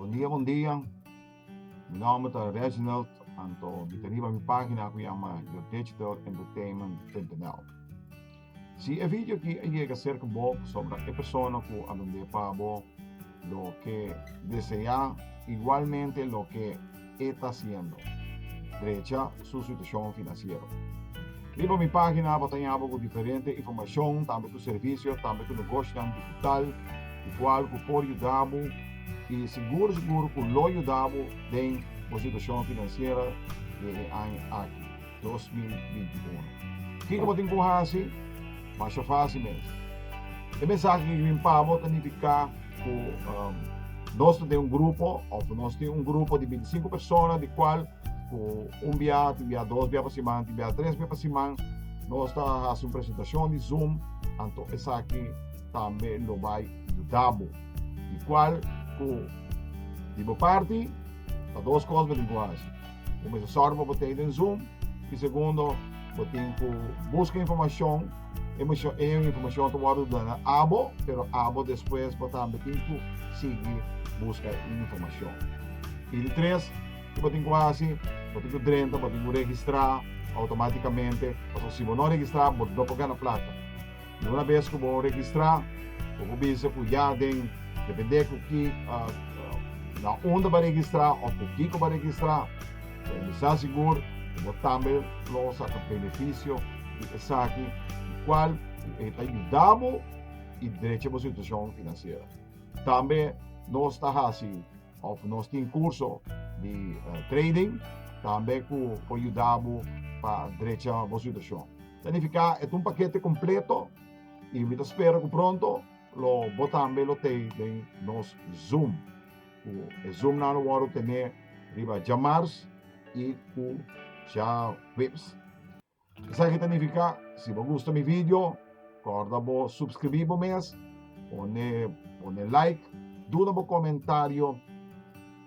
Bon dia bon dia mi nomber ta Reginald anto mi ta riba mi pagina ku yama your digital entertainment.nl si e video aki a yega serka bo ku sombra e persona ku a bendé pa bo. Lo ke deseá igualmente lo ke e ta siendo. Drecha su situashon finansiero. Riba mi página bo ta ña bo ku diferente informashon tambe ku servisio tambe ku negoshinan digital di kual ku por yuda bo i sigur sigur ku lo yuda bo den bo situashon finansiera den e aña aki. 2021. Kiko bo tin ku hasi? Masha fásil mes. E mensahe ke ke bin pa bo ta nifiká ku nos ta den un grupo òf nos tin un grupo di bintisinku persona di kual ku un bia tin bia dos bia pa siman tin bia tres bia pa siman nos ta hasi un presentashon di Zoom anto esaki tambe lo bai yuda bo di kual ku di bo parti ta dos kos bo tin ku hasi. Bo mester sòru pa bo ta den Zoom i segundo bo tin ku buska informashon, e informashon ta wòrdu duna abo pero abo despues bo tambe tin ku sigui buska e informashon. I di tres ku bo tin ku hasi, bo tin ku drenta, bo tin ku registrá outomátikamente, pasobra si bo no registrá bo no por gana plata. Una bes ku bo registrá, bo por bisa ku ya den, depende ku ki na unda bo registrá òf ku kiko bo registrá. Pa e bisa sigur ku bo tambe lo saka benefisio di esaki di kual e ta yuda bo i drecha bo situashon finansiera. Tambe nos ta hasi òf nos tin kurso di trading tambe ku por yuda bo pa drecha bo situashon. Ta nifiká e ta un pakete kompleto i mi ta spera ku pronto lo bo tambe lo tei den nos Zoom. Ku e Zoomnan lo wòrdu ten'é riba djamars i ku djaweps. Esaki ta nifiká si bo gusta mi video kòrda bo supskribí bo mes, pone pone like, duna bo komentario.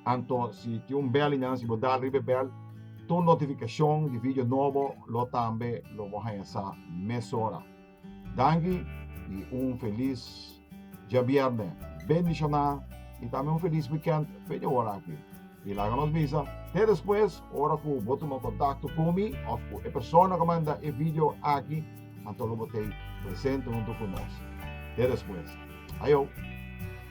Anto si tin un bèl liña si bo dal riba e bèl tur notifikashon di vidio nobo lo tambe lo bo haña sa mesora. Danki i un felis djabièrnè bendishoná i tambe un felis wikènt p'e dj'awor aki. I laga nos bisa te despues ora ku bo tuma kontakto ku mi òf ku e persona ku manda e vidio aki anto lo bo t'ei presente huntu ku nos. Te despues. Ayo!